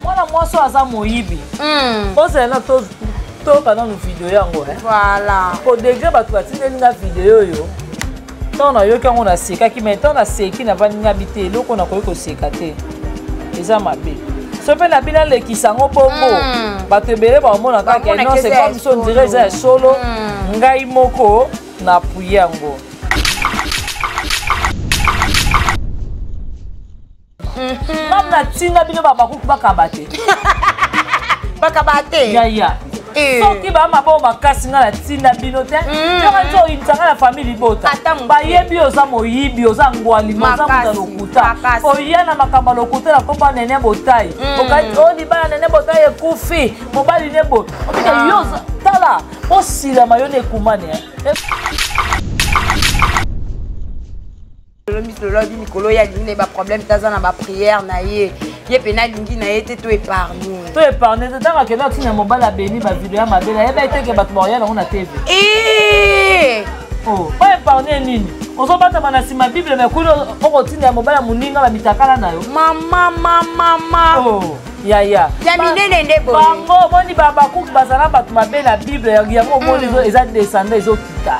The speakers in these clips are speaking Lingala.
mwana mwasi oyo aza moyibi hmm. ozala na toyoka nanu video yango eh? voilà po degre bato batindeli nga video oyo ntango nayoki yango nasekaki mai ntango naseki nabangabi te eloko nakoki koseka te eza mabe so mpe na bino alekisa yango bongo hmm. bato ebele bakomona kaka non c'est comme so ondire eza ya solo hmm. ngai moko na apuye yango ngai natinda bino babakuku bakaba te bakaba te yaya eh. soki baa maboko makasi ngai natinda bino te mm. yoko nti oyinisa ngai na famille libota bayebi oza moyibi oza ngwalima oza moto ya lokuta oya na makambo ya lokuta na kopa nene botai mm. okati o oh, libala nene botai ekufi mobali ne boye okita ah. yo tala osilama yo na ekumani eh. lelo miso lelo abi mikolo ye alingi na ye baproblème te aza na baprière na ye ye mpena alingi na ye te to épargne to épargne te ntango akenda otina mobali abemi bavideo ya mabe na yeba eteke bato baoya nango na tv eh! oh, po épargne nini ozobatama na nsima bible me kuli okotinda ya mobali ya moninga bamitakala na yo mama mama mama oh. yaya ya minene nde boye bango omoni babakuki bazala bato mabe na bible yango omoni mm. eza descenda ezokita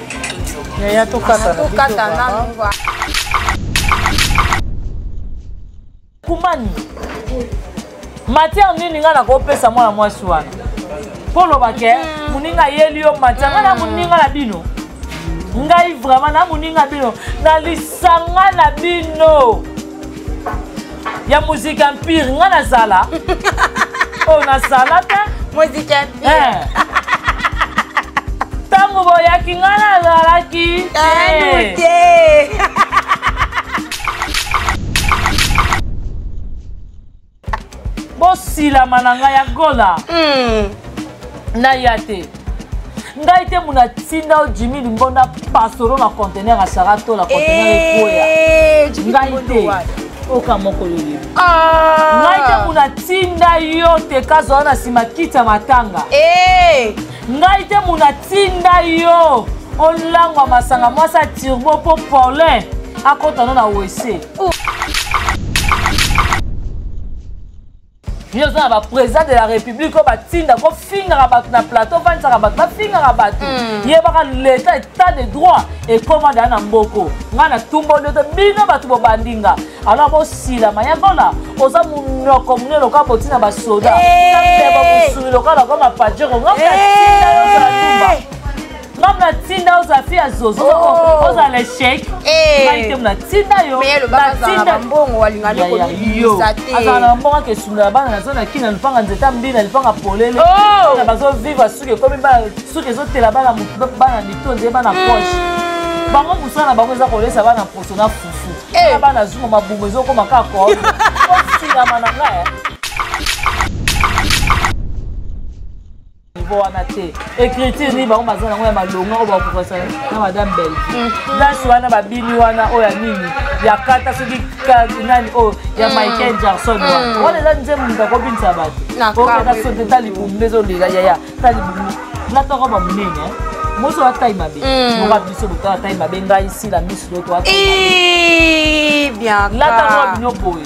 yaya tokata nanu kumani matière nini ngai nakopesa mwana mwasi wana mpo oloba ke mm. moninga ayeli yo matière ngai na moninga na bino ngai vraiment na moninga bino na lisanga na bino ya musique empire nga nazala oyo oh, nasala te musique empire eh. ntango boyaki nga nazalaki te bosilama na ngai ya gola hmm. naya te ngai te muna tinda o jimi limbonda pasoro na contener ya sara to na contener eh, ekoya ngai te oka moko yoye ah. ngai te muna tinda yo te kazala na nsima kiti ya matanga eh. ngai te muna tinda yo olangwa masanga mwasi ya turbo mpo paulin akotana na wese Oh. yo oza na baprésident de la république oyo batinda kofingaka bato na plateau ofandisaka bato bafingaka bato hmm. yebaka leta état de droit ekoma daya na mboko ngai natumba ndoto bino bato bobandi nga alors bosilama yakola oza monoko monene lokola botina basoda eh. na mbeba mosuni lokola lokola mapajero ngai natinda yo ozala tumba Mama na tinda oza fi ya zozo oh. oza le chèque. Eh. Ngai te na tinda yo. Mais loba za na mbongo alinga ni ko bisa te. Aza na mbongo ke sunda bana na zona kina lipanga nzeta mbi na lipanga polele. Oh. Na bazo vivre suke komi ba suke zo tela bana mutu bana mito nze bana hmm. poche. Bango musala na bango eza kolesa bana poso na fufu. Eh. Na bana zuma mabungo ezokoma kaka ko. Ko sila mananga. niveau wana te écriture nini bango baza nango ya malonga oyo bakokasa na madame bellevue danse mhm. wana babini wana oyo ya nini ya kata soki nani oyo oh, ya mhm. michael jackson wana mhm. wana eza nzembo moto akobinisa bato okenda sote ta libumu nde ezolela yaya ta libumu natoko bamonene eh. moso watai mabe moka mm. biso boto watai mabe ngai sila misu loto watai mabe eh, lata ngo bino boye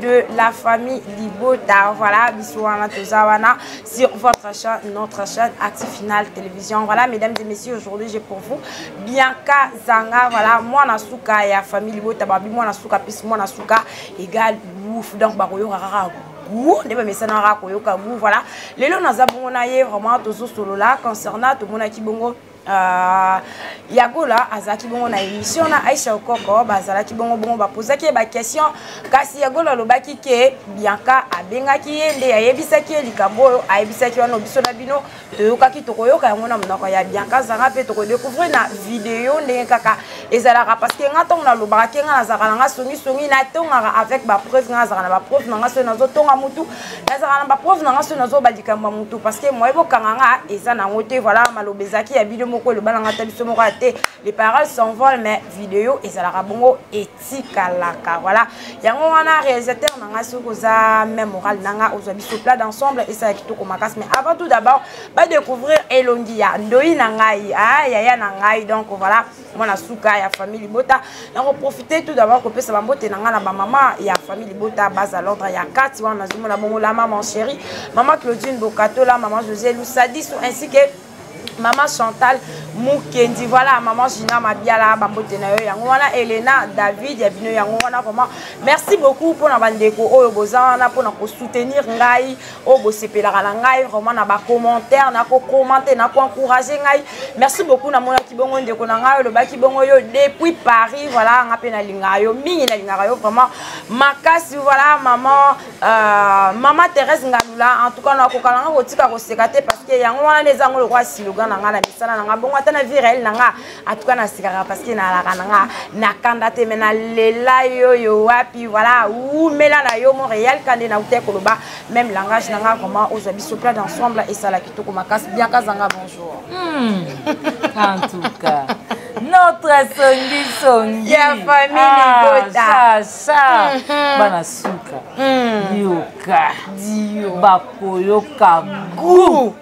de la famille Libota. Voilà, bisous à Matozawana sur votre chaîne, notre chaîne Active Finale Télévision. Voilà, mesdames et messieurs, aujourd'hui j'ai pour vous Bianca Zanga. Voilà, moi Nasuka et la famille Libota, Babi, moi Nasuka, puis moi Nasuka égale ouf. Donc, Baroyo Rara goût nde bamesanaka koyoka goût voilà lelo naza bongo na ye vraiment tozosolola concernant tomonaki bongo Uh, yagola azalaki bongo na émission na aisha okoko bazalaki bongo bongo bapozaki ye baquestion kasi yagola alobaki ke bianka abengaki ye nde ayebisaki ye likambo oyo ayebisaki wana biso na bino toyokaki tokoyoka yango na monoko ya bianka azanga mpe tokodécouvrir na video ndenge kaka ezalaka parce ke nga ntango nalobaka ke nga nazalaka na nga songisongi natongaka avec bapreuve nga nazalaka na bapreuve na nga soki nazotonga motu nazalaka na baprove na nga soki nazoba likambo ya motu parce que moye bokanga nga eza nango te voilà maloba ezalaki ya bino moko eloba na nga ta biso moko ya te les paroles s'envolent mais video ezalaka bongo etikalaka voilà yango wana réalisateur na nga soki oza même moral na nga ozwa biso plat d'ensemble esala kitoko makasi mais avant tout d'abord badécouvrir elongi ya ndoi na ngai ah, yaya na ngai donc voilà mwana suka ya famille libota nakoprofite tout d'abord kopesa bambote na ngai na bamama ya famille libota base à l'ordre ya kati wana nazomona bongo la maman chérie maman claudine bokatola maman josé lusadiso ainsi que maman chantal mukendi voilà maman gina mabiala bambote na yo yango wana elena david ya bino yango wana vraiment merci beaucoup mpona bandeko oyo boza wana mpona kosoutenir ngai oyo bosepelaka na ngai vraiment na bacommentaire nakokomante nakoencourage ngai merci beaucoup namonaki bongo ndeko na ngai olobaki bongo yo depuis paris voilà nga mpe nalingaka yo mingi nalingaka yo vraiment makasi voilà maman euh, maman thérèse ngalula en tout cas nakokana nga kotika koseka te parce que yango wana nde ezango lokola siloga na ngai na misala na ngai bongo ata na vie réel na ngai en tout cas nasekaka parce que nalaka na nga na kanda te mais nalela yo yo wapi voilà wumela na yo montréal kande nautai koloba même langage na nga vraiment ozwa biso plat d'ensemble esala kitoko makasi bianka zanga bonjour hmm. en tout cas notre songi songi ya famille libota sasa bana suka dioka dio bakoyoka gout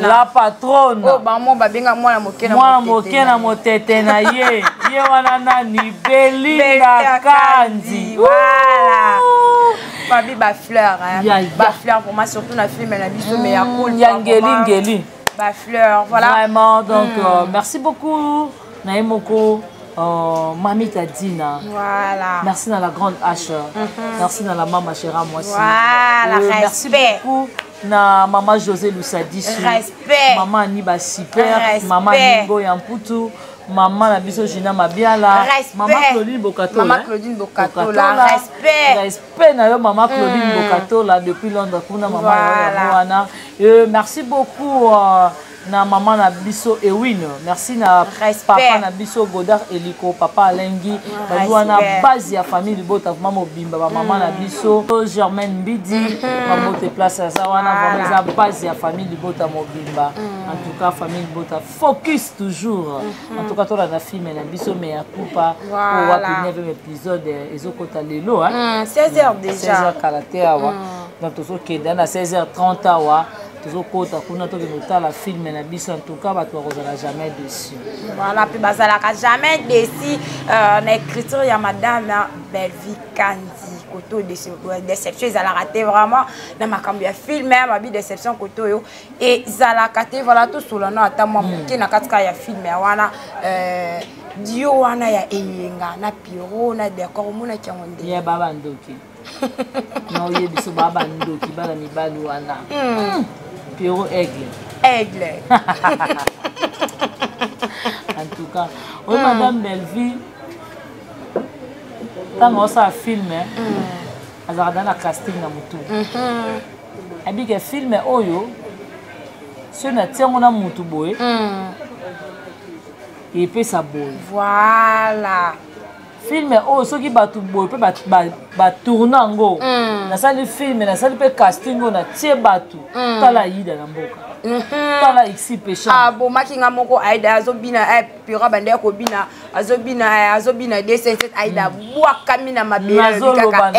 la patrone oyo oh, bango babenga mwana moke mwana moke na motete na ye ye wana nani belinda kandi voilà babi bafleur bafleur pour moi surtout na filme na biso mais ya mm, cool ya ngeli ngeli bafleur voilà vraiment donc mm. euh, merci beaucoup na ye moko Oh, Mamie Tadina. Voilà. Merci dans la grande H. Mm -hmm. Merci dans la maman Chéra Moissi. Voilà, euh, merci respect. beaucoup na maman José Lusadisu. Respect. Maman Aniba Super. Respect. Maman Ningo Yamputu. Maman na biso Gina Mabiala. Respect. Maman Claudine Bokato. Maman hein? Claudine Bokato. Bokatola. Respect. Respect na yo maman Claudine mm. Bokato là depuis Londres kuna maman voilà. Wana. Euh, merci beaucoup. Euh, na maman na biso Ewine merci na Respect. papa na biso Godard Eliko papa Alengi bayi wana Respect. base ya famille libota vraiment mobimba ba maman na biso Germaine Mbidi mabote place aza wana vraiment eza base ya famille libota mobimba en tout cas famille libota focus toujours en tout cas tolanda filme na biso mais ya kupa Voilà. oyo wapi 9e épisode eh, ezokota lelo hein? 16 heures déjà 16h kala te awa donc tozokende na 16h30 awa tozokota kuna tokende kotala filme na biso en tout cas bato bakozala jamais déçu voilà mpe bazalaka jamais déçu euh, na écriture ya madame bellevie kandi koto déception ezalaka te vraiment na makambo ya film ya babi déception koto oyo ezalaka te voilà tosolano ata mwa moke hmm. na katika ya film ya wana euh, dio wana ya eyenga na piro na decor omonaki yango nde ya baba ndoki na oye biso baa bandoki bana mibali wana hmm. piero aigle aigle en tout cas oyo hmm. madame bellevue ntango osala filme eh, hmm. azalaka da na casting na motu mhm. abike filme oyo soki natia yango na motu boye epesa boye voilà filme oyo oh, soki bato boye mpe batourna yango mm. nasali filme nasali mpe casting oyo natie bato mm. tala ayida na mboka mm-hmm. tala ixi pechabomaki ah, nga moko aida azobina eh, pira bande ya kobina azobina eh, azobina dcc aida mm. bwakami na mabelekaka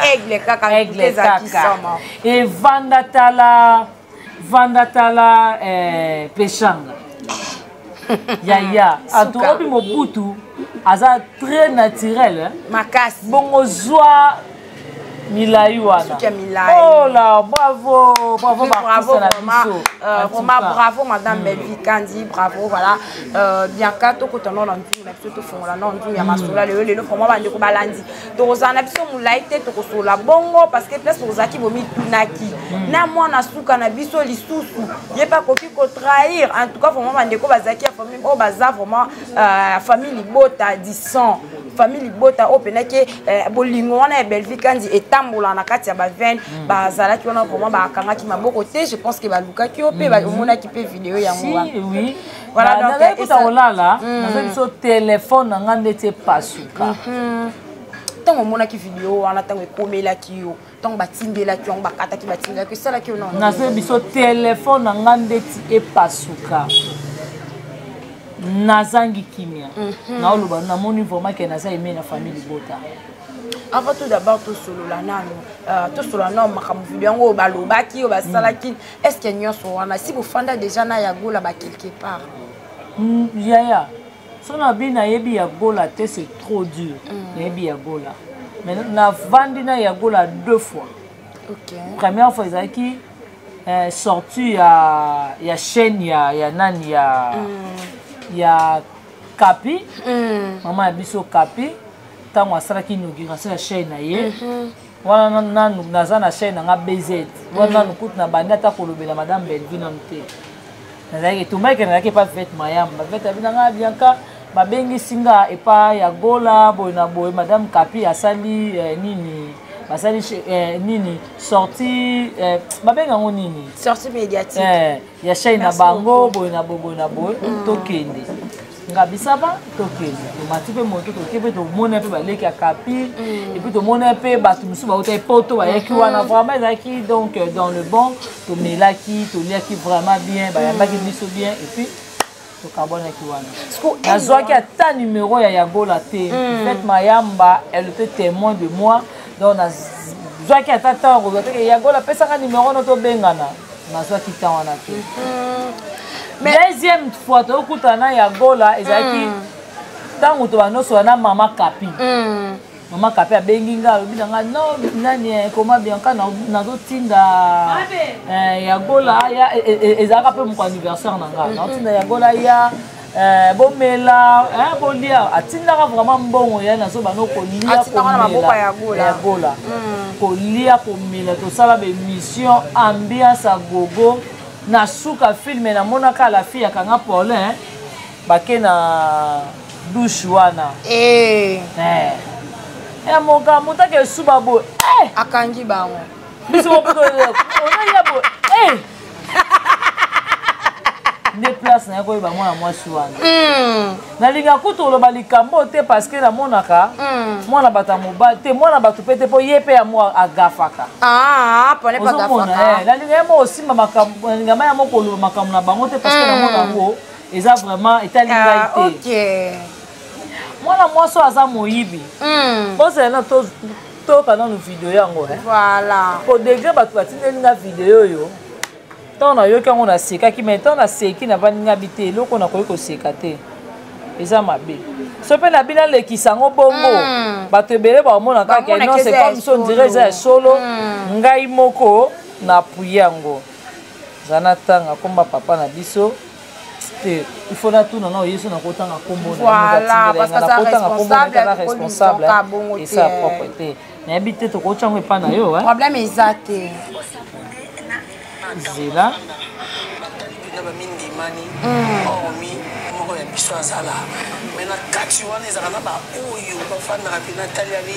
aigle kaka aigle kaka evanda tala vanda tala eh, peshanga yaya atobi mobutu aza très naturel eh? makasi bongo zwa milai wana ola oh bravo bravo bravo euh, vraiment bravo madame hmm. belvi kandi bravo voilà euh, bianca tokota no na nzungu na biso tofongola no nzungu ya hmm. masolo lelo lelo vraiment bandeko balandi tokozala na biso molai te tokosolola bongo parce que place tokozalaki bomitunaki hmm. na mwana suka na biso lisusu ye mpe akoki kotrahir en tout cas vraiment bandeko bazalaki ya famille oyo baza vraiment euh, famille libota du sang famille libota oyo mpendaki euh, bolingo wana ya bellevie kandi etambola na kati ya bavene hmm. bazalaki wana vraiment bakangaki maboko te je pense ke balukaki yo mpe hmm. omonaki mpe video yango wana nazali kuta kolala hmm. naza biso telefone na ngai ndeti epasuka mhm. ntango omonaki video wana ntango ekomelaki yo ntango batindelaki yango bakataki batindelaki esalaki yo nazo biso telefone na ngai ndeti epasuka nazangi kimia mhm. naoloba namoni vraiment ke naza eme na famille libota avant tout d'abord tosolola nano euh, tosolola nano makambo video yango oyo balobaki oyo basalaki mm. est ce que nyonso wana si bofanda déjà na ya gola ba quelque part mm, yaya so nabi nayebi ya gola te c'est trop dur mm. nayebi ya gola mais navandi na ya gola deux fois okay. première fois ezalaki eh, sortie ya, ya chaîne ya, ya nani ya, mm. ya kapi mm. mama ya biso kapi ntango asalaki inauguration ya chaîne na ye mm -hmm. wana nanu naza na chaine nanga bz wana mm. nanu kutu na bandi ata kolobela madame belvi nanu te nazalaki etumbaki nazalaki epa vete mayamba bavete abi nanga bianka babengisi nga epa ya gola boye na boye madame kapi asali eh, nini basali eh, nini sorti eh, babenga yango nini sorti médiatique eh, ya shai na bango boye na boboye na boye mm. tokende ngabisaba tokende tomati mpe moto toke mpe tomona mpe baleki ya kapi mm. epuis tomona mpe bato mosusu bautaki poto bayaki mm-hmm. wana vraiment ezalaki donc euh, dans le bon tomelaki toliaki vraiment bien bayambaki mm. biso bien epuis tokabwanaki wana nazwaki ata numero ya yagola te hmm. fait mayamba elle était témoin de moi donc nazwaki ata temps ya kozwa te yagola apesaka numero no tobengana nazwaki temps wana te hmm. deuxième fois tokutana na yagola ezalaki hmm. ntango tobanosola na mama kapi mama kape abengi nga alobi na nga no nani eh, koma bianca nazotinda eh, ya gola ya e, e, e, ezalaka mpe moko anniversaire na nga nazotinda ya gola ya eh, bomela bolia atindaka vraiment mbongo ya nazoba no kolia komela ya gola hmm. kolia komela tosala baémission ambiance agogo na suka filme namonaka la fille akanga paulin bake na douche wana eh. Eh. Eh, moka motaka esuba boye akangi bango biso mopoto onalia boye nde place naye koyeba mwana mwasi wana hmm. nalinga kutu oloba likambo oyo te parce que namonaka hmm. mwana bato ya mobali te mwana bato mpe te mpo ye mpe yango agafaka ah, ozomona nalinga ye moko osimba makambo nalinga ma ya moko oloba makambo na bango te parce que hmm. namona yango eza vraiment etali ah, ngai te okay. mwana mwasi oyo aza moyibi mm. bozela na toyoka nanu video yango eh? voilà. po degre bato batindeli nga video oyo ntango nayoki yango nasekaki mai ntango naseki navandi nga bi te eloko nakoki koseka te eza mabe so mpe na bino alekisa yango bongo mm. bato ebele bakomona kaka non c'est comme so ndire eza ya solo mm. ngai moko na puye yango za natanga komba papa na biso te il faut natuna nao yesu nakotanga kombonaakotanga kombonaza eh. responsable esa propre te nayebi te tokotya yango epai na yo problème eza te zela bamindimani mm. hormi moko ya biso azala me na kati wana ezalaka na baoyo bafandaka mpe nataliali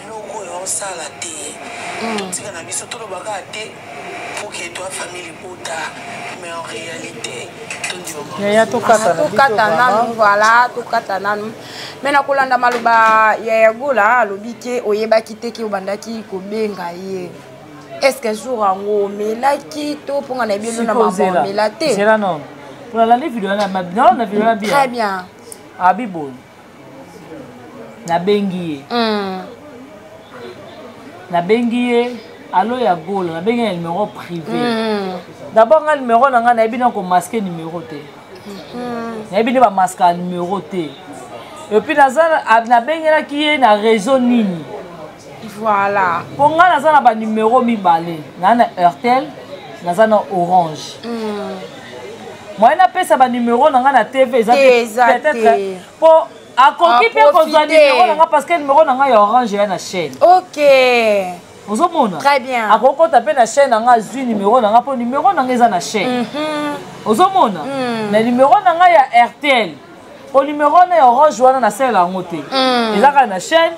eloko oyo osala te hmm. totika na biso toloba kaka te pour que toi famille libota mais en réalité yaya tokata nanu voilà tokata nanu me na kolanda maloba ya yagola alobi ke oyebaki te ke obandaki kobenga ye est ce que jour yango omelaki to mponga na ebelo na mambo omela te très bien abiboye ah, nabengi ye mm. nabengi ye alo ya golo nabengi na numero privé mm. d'abord nga numero na ngai nayebi na komaske numero te mm-hmm. nayebi nde bamaska numero te epuis naza nabengelaki ye na réseau nini voilà mpo ngai naza na banumero mibale naa na heurtel naza na orange mm. moyen napesa banumero na ngai na tv eza peut-être mpo akoki mpe kozwa numero na ngai parce que numero na ngai ya orange eya na chaîne ok ozomona akoki kota mpe na chaîne na ngai azwi numero na ngai mpo numero na ngai eza na chaîne mhm. ozomona hmm. na numero na ngai ya rtl mpo numero na ya orange wana nasalela yango te hmm. eza kaka na chaîne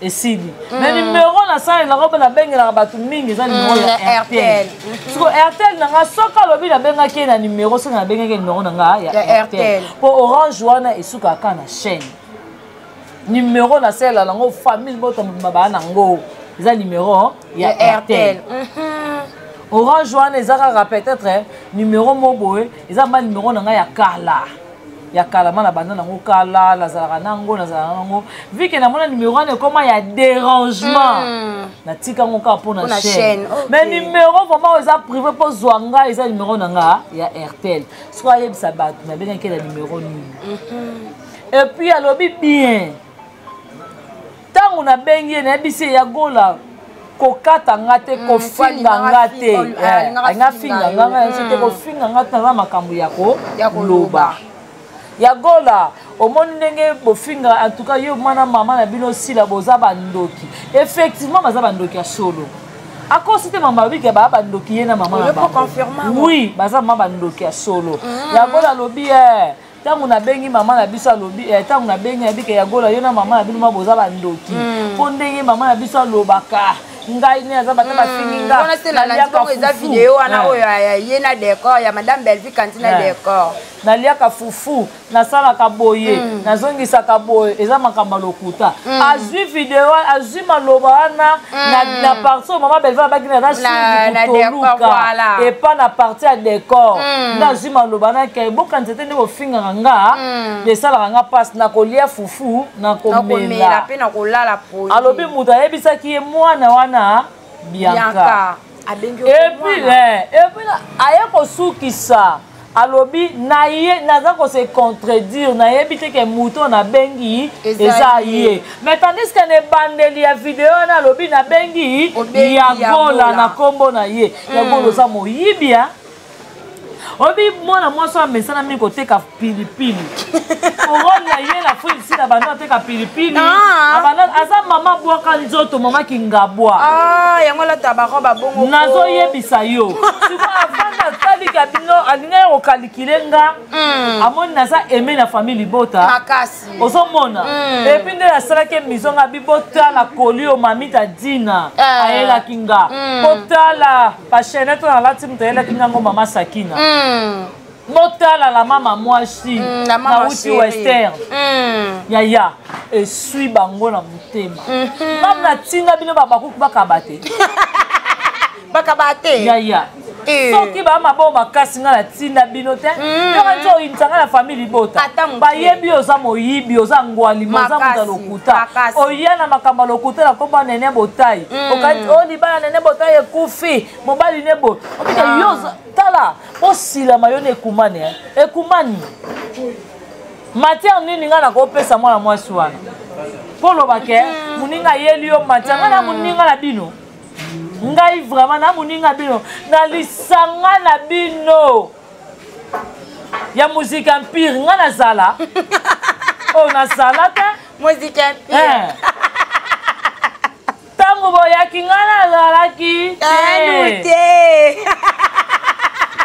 esili mm. na nimero nasalelaka mpe nabengelaka bato mingi eza nimero mm, ya rtl mm-hmm. siko rtl na ngai soki alobi nabengaki ye na nimero soki nabengaki ye nimero na ngai ya rtl mpo orange wana esukaka kaka na chaîne nimero nasalela nango famille moto mobima baa na ngo eza nimero ya rtl mm-hmm. orange wana eza kaka peut-être eh, nimero mo boye eza mba nimero na ngai ya kala ya kala nga na banda nango kala nazalaka nango nazalaka nango vike namona numero wana ekoma ya dérangement mm. natika yango kaka mpo na chaîne mais numero vraiment oyo eza privé mpo zwa nga eza numero na nga ya airtel soki ayebisa bato nabengaki na numero nini mhm. epuis alobi bien ntango nabengi ye nayebisi ye ya gola kokata nga te mm, kofinga nga te alinga finga nga nga yanso te kofinga nga te naza makambo ya koloba ya gola omoni ndenge bofinga en tout cas yo mwana mama na bino osila boza bandoki effectivement baza bandoki ya solo akosi te mama babiki baa bandoki ye na mama na bango oui baza mama bandoki ya solo mm. yango alobi e eh, ntango nabengi mama na biso alobi eh, ntango nabengi yabike ya gola yo na mama na bino ma boza bandoki hmm. mpo ndenge mama na biso alobaka ngai ne aza bata bafingi hmm. ngawana se nalandikongo eza video wana eh. oyo eh, ye na decor ya madame belvi kanti na decor naliaka fufu nasalaka boye hmm. nazongisaka boye eza makambo ya lokuta azwi video azwi maloba wana na parti oyo mama belvi abaki na na sutoluka epa na parti ya decor ozwi maloba na kei bokanisa te nde bofingaka nga hmm. esalaka nga mpasi nakolia fufu nakomela mpe nakolala poli alobi moto ayebisaki ye mwana wana bianka epuis epuis aye kosukisa alobi naye naza kose contredire nayebi te ke moto oyo nabengi eza ye mais tandis ke na ebandeli ya video wana alobi nabengi ya gola na nkombo na ye ya gola mm. oza moyibia oyebi mwana mwasi oyo amesana mingi koteka pilipili orole na ye na fri sida banda ateka pilipili ah. aza mama bwaka nzoto mama kingabwa ah, yango alata barobe abongo nazoyebisa yo avanda ataliki abino alinga ya kokalikile nga hmm. amoni naza eme na famille libota ozomona hmm. epuis nde nasalaki emiso nga bibotala kolio mamita dina eh. ayelaki nga hmm. kotala ba chaînette oyo alati moto ayelaki ngango mama sakina mm. botala la mama mwasi mm, nauti western mm. yaya eswi bango na motema mm -hmm. mam natinga bino babakuku bakaba te bakaba te yaya Eh. soki bamaboo makasi ngai natinda bino te mm. yoka nti oyinisa ngai na famille libota bayebi oza moyibi oza ngwalima oza moto ya lokuta makasi oya na makambo ya lokuta na nkombo ya nene botai mm. okanisi o oh, libala nene botai ekufi mobali ne bo okite ah. yo tala osilama yo na ekumani eh. ekumani matière nini ngai nakopesa mwana mwasi wana mpo oloba ke mm. moninga ayeli yo matière ngai na mm. moninga na bino ngai vraiment na moninga bino na lisanga na bino ya musique empire nga nazala oyo oh, nazala te musique empire eh. ntango boyaki nga nazalaki te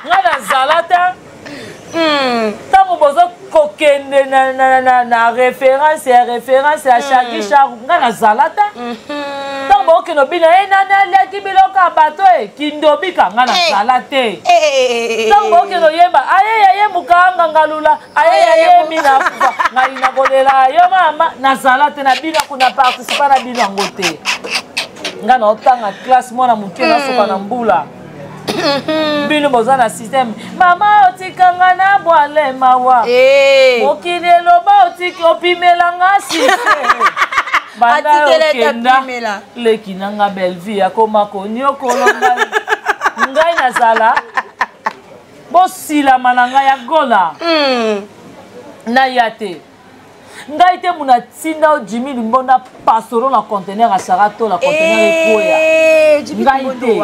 nga nazala te ntango hmm. bozo kokende na, na, na, na référence ya référence ya shaki mm. sharu ngai nazala te mm-hmm. ntango baokende obina e eh, nani aliaki biloko ya bato e kindobika ngai eh. nazala te eh, ntango baokende oyemba aye yaye mokanga ngalula aye yaye minakufa ngai nakolela yo mama nazala te na bino kuna participa na bino yango te ngai naotanga classe mwana moke nasoka na mbula bino boza na systeme mama otikanga na bwale mawa eh. mokili eloba otiki opimela nga sise banda okenda leki na nga bellevie akoma koniokola ngai ngai nazala bosilama na ngai ya gola hmm. naya te ngai te muna atinda yo jimi limbonda pasoro na contener ya sara to na contener ekoya eh, ngai te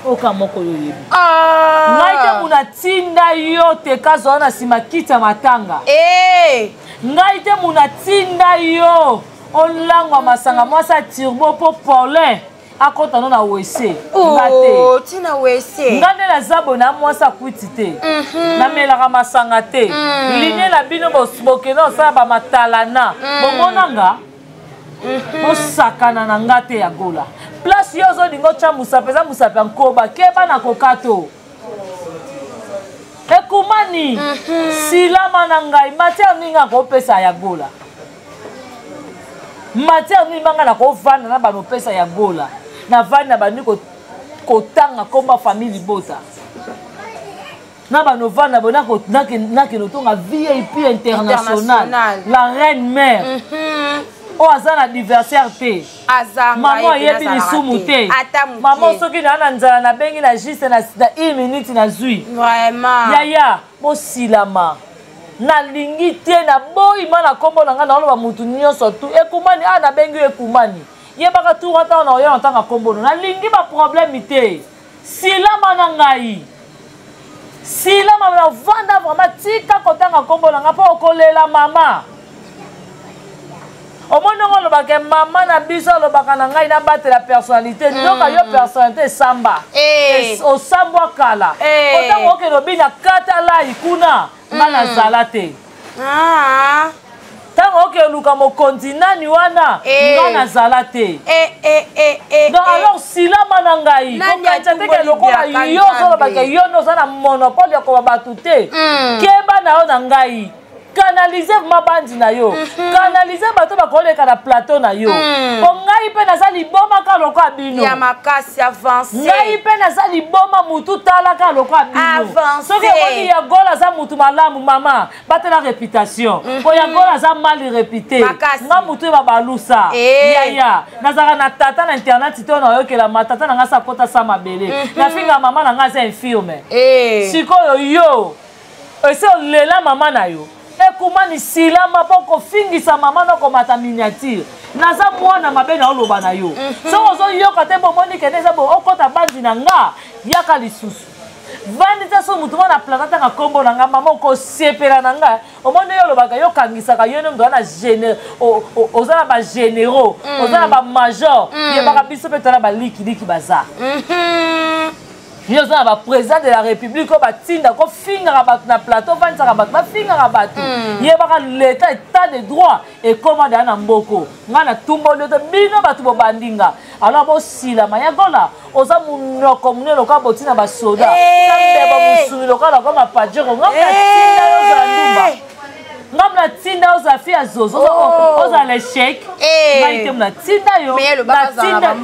oka moko yo oyebi ah! ngai te muna atinda yo te kazwa na nsima kiti ya matanga eh! ngai te muna atinda yo olangwa masanga mwasi ya turbo mpo paulin akɔta no na wese oh, nga te tina wese nga nde naza boye na mwasi akwiti te mhm. namelaka masanga te mhm. linie na bino bokende osala bamatalana mhm. bomona nga bosakana na nga te ya gola place yo ozolinga otya mosapi eza mosapi ya nkoba keba na koka to ekumani silama na ngai matière nini akopesa ya gola matière nini banga na kovanda na bana opesa ya gola na vandi na bandi kotanga komba famille libota na bana ovanda bo nakende otonga vip international la reine mère mm -hmm. oyo aza na adversaire te mama ayebi lisumu te mama soki naa na nzala nabengi na juste na une minute nazwi yaya bosilama nalingi te naboyi ma na nkombo na ngai naoloba motu nyonso tu ekumani a ah, nabengi yo ekumani yebaka tu ata wana oya na ntango ya nkombo no nalingi baproblème te silama na ngai silama na vanda vraimen tika kotanga nkombo na ngai mpo okolela mama omoni ongo olobaka mama na biso alobaka na ngai nabatela personnalité mm. ndoka yo personnalité esamba eh. osambwa kala eh. otango okende obi na katalai kuna mm. nga nazala te ah. ntango okende oluka mokonzi nani wana eh. nga nazala te donc alors silama na ngai kokanisa teke lokola yo ozolobaka yo nde oza na monopole ya koba bato te mm. keba na yo na ngai canalise mabandi na yo mhm. canalise bato bakoleka na plateau na yo mhm. po ngai mpe naza liboma ka lokola bino ya makasi avance ngai mpe naza liboma mutu talaka lokola bino soki omoni ya gol aza mutu malamu mama batela réputation mhm. po ya gol aza mal réputé nga mutu eba balusa eh. yaya nazalaka na tata na internet to nayokelama tata na ngai sakota sa mabele nafinga mama na ngai aza infirme eh. sikoyo yo ese olela mama na yo ekumani sila maboko fingisa mama na okomata miniature naza mwana mabe na oloba na yo mhm. soki ozoyoka te bomoni kende eza bo okota bandi na nga yaka lisusu vandi te so motu mwana plata ntanga nkombo na nga mama okosepela na nga omoni yo olobaka yo okangisaka yo nde motu wana oza na bagénéraux mm. oza na bamajor mm. yebaka biso mpe tona balikiliki baza mhm. yo oza na baprésident de la république oyo batinda kofingaka bato na plateau ofandisaka bato bafingaka bato hmm. yebaka leta état de droit ekoma daya na mboko ngai natumboli ote bino bato bobandi nga alors bosilama yagola oza monoko monene lokola boti na basoda eh. na mbeba mosuni lokola nakoma pajero ngai natinda yo ozala ndumba eh. nga mna tinda yo ozala fi ya zozo oh. ozala na echec eh. ngai te mna tinda yo azala na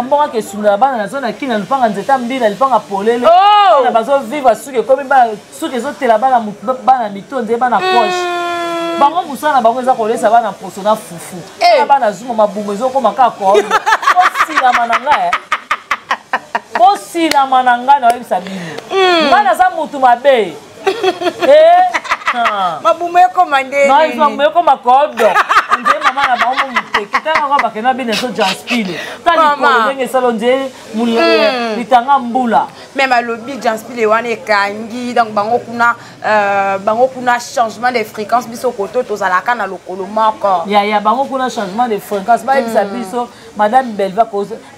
mbongo ake esundola bana nazo na kina lupanga nzete mbila lupanga polele oh. bana bazovivre suki ekomi suki ezotela bana mito nzee bana poche mm. bango mosala na bango eza kolesa bana mposo na fufu eh. bana zuma mabumu ezokoma kaka koyo bosilama na ngai eh. bosilama na ngai naoyebisa bino hmm. ngai naza motu mabe eh. ah. mabumu ekoma ndeemabumu ekoma kodo nde mama na bango moteke ntango yango bakende na bino ezo janspile ta likolo ndenge esalo nde hmm. litanga mbula meme alobi janspile wana ekangi donc bango kuna Euh, bango kuna changement de fréquence biso koto tozalaka na lokolo moko ya ya bango kuna changement de fréquence bayebisa hmm. biso madame belva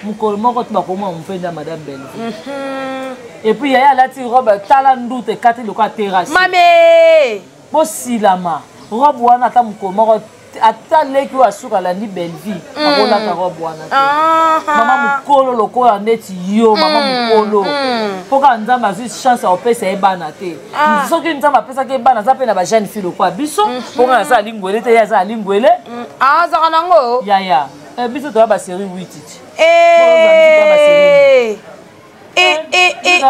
mokolo moko to bakoma mopenda madame belva mhm. epuis yaya alati robe tala ndute ekati lokola terrasse mame bosilama robe wana ata mokolo moko ata leki oyo asuka alandi bellevie mm. akolata robe wana te ah, ah. mama mokolo lokola neti yo mama mm, mokolo mm. mpo kaka nzambe azwi chance akopesa ye bana te ah. soki nzambe apesaki ye bana aza mpe na bajeune fille lokola biso mm-hmm. mpo kaka aza alingwele te ye aza alingwele azaka nango yaya eh, biso toya baserie wititi eh. Eh, eh, eh,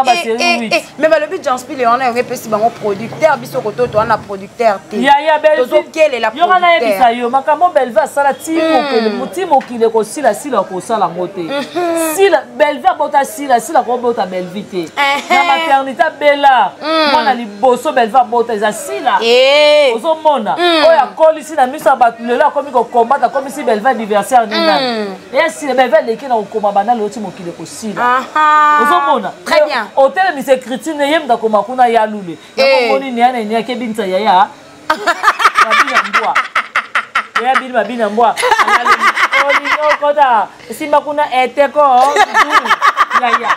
mais balobi janspi le wana yango epesi bango producteur biso kototo wana producteur teyoka nayebisa yo makambo belve asala ti hmm. mokili ekosila sila akosala yango te hmm. sila belve abota sila sila akobota belvi te na maternité abela hmm. mwana liboso belve abota eza sila ozomona oyo akolisi na miso ya bato lelo akomi kokombata akomisi belve anniversaire nini eya sila belve aleki na kokoma banda lelo ti mokili ekosila ozomona otelemisa écriture ne ye mutu akoma kuna ya lule yakomoni eh. neana ene akebinisa yaya babina mbwa yaya bini babina mbwa olingokota esimba kuna eteko yaya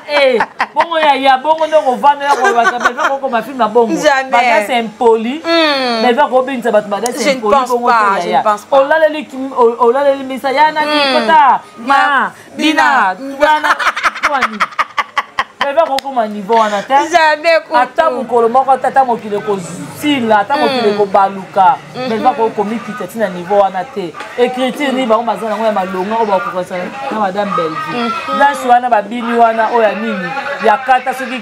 eh, bongo yaya bongo nde okofandela kolobaka belva kokoma filme bongo badase impoli hmm. belva kobengisa bato badase impoli bongo te yaya olaleli misa ya nani hmm. kota ma bina tubana wani bebe akokoma niveau wana te ata mokolo moko ata ata mokili ekosila ata mokili mm. ekobaluka mm-hmm. bebe akokomikita ti na niveau wana te écriture nini bango baza nango ya malonga oyo bakokokisa na madame bellevue mm-hmm. danse wana babini wana oyo ya nini ya kata soki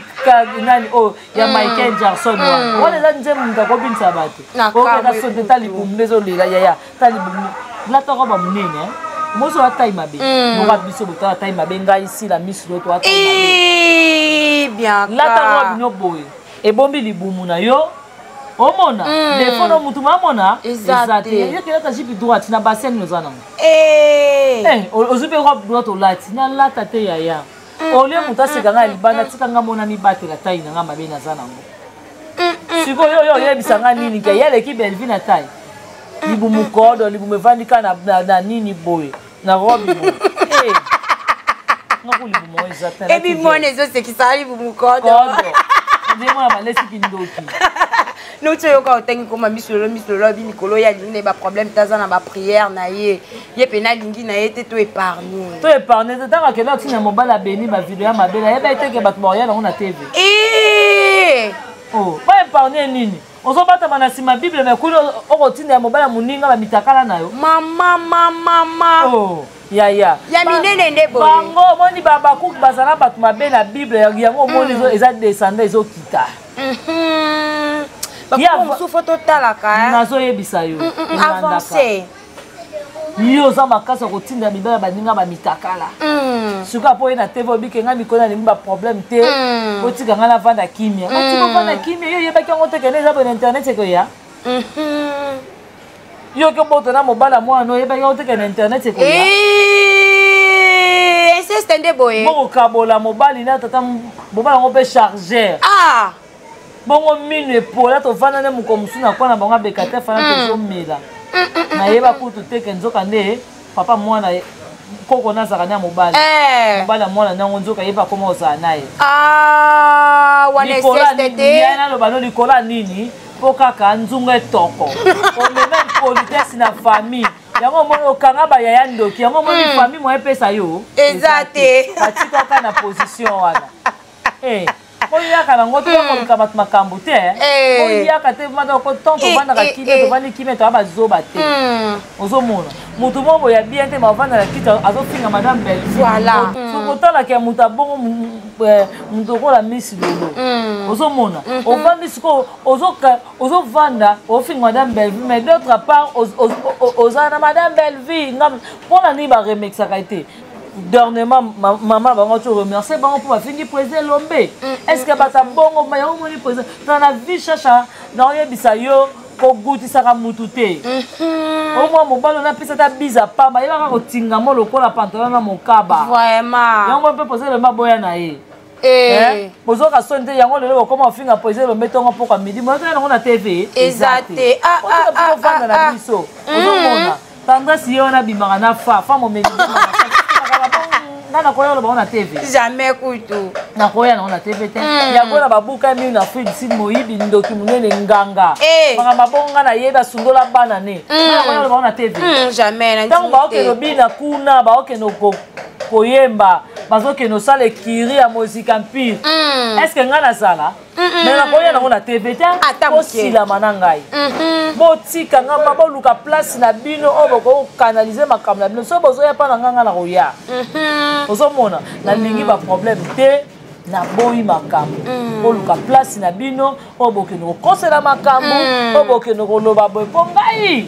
nani oyo oh, ya mm. michael jackson wana mm. wana eza nzembo moto akobinisa bato okenda sote ta libumu nde ezolela yaya tali bomi lata roba monene mozo wa taille mabe hmm. moka biso botala taille mabe ngai sila misu loto wa taille mabe eh, bien lata roba bino boye ebombi libumu na yo omona hmm. defo no mutu mamona eza te yokelata jipi droite na basene oza nango eh. eh, ozwi mpe robe droite olati nalata te yaya olie moto aseka ngai libanda tika ngai mona mibatela tai na ngai mabe naza nango sikoyo oyo oyebisa ngai nini ke yaleki belvi na tai libumu kodo libumu evandi ka na nini boye na robi boye eh. ebimona ezosekisa libumu kodo ndemona malesi kindoki noti oyoka otangi koma miso lelo miso lelo abi mikolo ye alingi na ye baproblème te aza na baprière na ye ye mpena alingi na ye te to épargne to épargne te ntango akenda otina mobali abemi bavideo ya mabele ayeba ye teke bato baoya nango na tv eh! oh, ba épargne nini ozobatama na nsima bible me kuna okotinda ya mobali ya moninga bamitakala na yo mama mama mama oh. ya ya ya minene nde boye bango omoni babakuki bazala bato mabe na bible yango omoni mm. eza descendant ezokita bakomosusu fo totalaka eh. nazoyebisa yo mm, mm, mm, avance yo oza makasi ya kotinda mibali ya baninga bamitakala sikoyo apo ye na tv obike ngai mikolo nalingi baproblème te otika ngai navanda kimia otika ovanda kimia yo oyebaki yango te kende eza bone internet ekoya mhm. yo oki obota na mobali ya mwana oyebaki oteke na internet ekoya inceste nde boye bokokabola mobali na tata mobali yango mpe chargeur ah! bongo minu epola tovanda nde mokolo mosusu na kwana bango abeka te fana hmm. tozomela nayeba kutu teke nzoka nde papa mwana koko nazaka na mobali eh. mobali ya mwana nango nzoka ye mpe akoma kozala na ye ah, naloba no likolo ya nini mpo kaka nzunga etoko omema impolitesse na famille yango omoni okanga bayaya ndoki yango omoni hmm. famille moya epesa yo eza te batikaka na position wana eh. oyaka nango to bakoluka bato makambo te oyaka te mada oko tan tofandaka kimia tofandi kimia toya bazoba te ozomona moto moko boya bien te mavanda na kiti azofinga madame bellevueokotalaka ya moto abongo moto okola misi lolo ozomona ofandi sikoyo ozovanda ofinga madame bellevue mais d'autre part oza na madame bellevue mpona nini baremexaka ye te dernièrement mama bango to remercier bango mpo bafingi président elombe mm, mm, est ce que bata bongo yango omoni président tala na vie chacha naoyebisa yo kogutisaka mutu te mhm. omwa mobali ona apesa ata biza pamba yebaka kotingamo lokola pantalon na mokaba yango mpe poza elombe aboya na ye Eh. Eh, bozoka soni te yango lelo bokoma ofinga poise elombe ntongo mpokwa midi moyoka yango na tv eza te ah, ah, ah, ofanda na biso mm. ozomona tendance ye wana abimaka na fa fa momeli nga nakoya oloba ngo na tv jamais kutu nakoya nango na tv te mm. yango na babuka minu na afrique du sud moyibi ndoki monene nganga eh. maka mabongo nga nayebi asundola bana ne mm. nakoya oloba ngo na tv mm, jamais ntango baokende obina kuna baokende koyemba bazokende osala ekiri ya mozika empire mm. estce ngai nazala me nakoya nango na tv te kosilama na ngai mm-hmm. botika ngai ma boluka place na bino oyo bokoki kokanalize makambo na bino soki bozoya mpa na ngai ngai nakoya mm-hmm. ozomona nalingi mm. baproblème te naboyi makambo mm. oluka place na bino oyo bokende kokosela makambo mm. oyo bokende koloba boye mpo ngai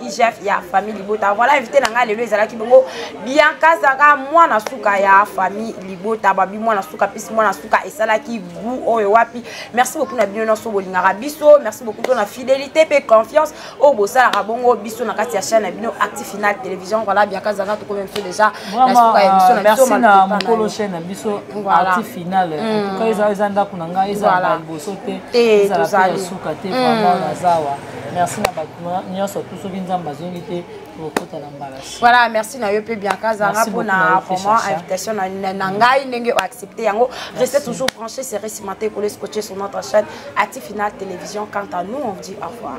igf ya famille libota voilà invité na ngai lelo ezalaki bongo bianca azalaka mwana suka ya famille libota babi mwana suka mpisi mwana suka esalaki gout oyo wapi merci beaucoup na bino nyonso bolingaka biso merci beaucoup to na fidélité mpe confiance oyo bosalaka bongo biso na kati ya chaîne na bino acti final télévision voilà bianca azalaka tokomi biso déjà na suka ya biso na biso na mokolo chaîne na biso acti final mm. eza ndako na ngai eza liboso te ezala mpe ya suka te mm. vraiment nazawa merci na bato nyonso tu soki nzambe azongi te tokokota na mbalasi voilà merci na yo mpe bianca zanga mpona vraiment invitation na ngai ndenge oaccepte yango reste toujours branché serai cimante ekole scotché sur notre chaîne ati final télévision quant à nous on dit au revoir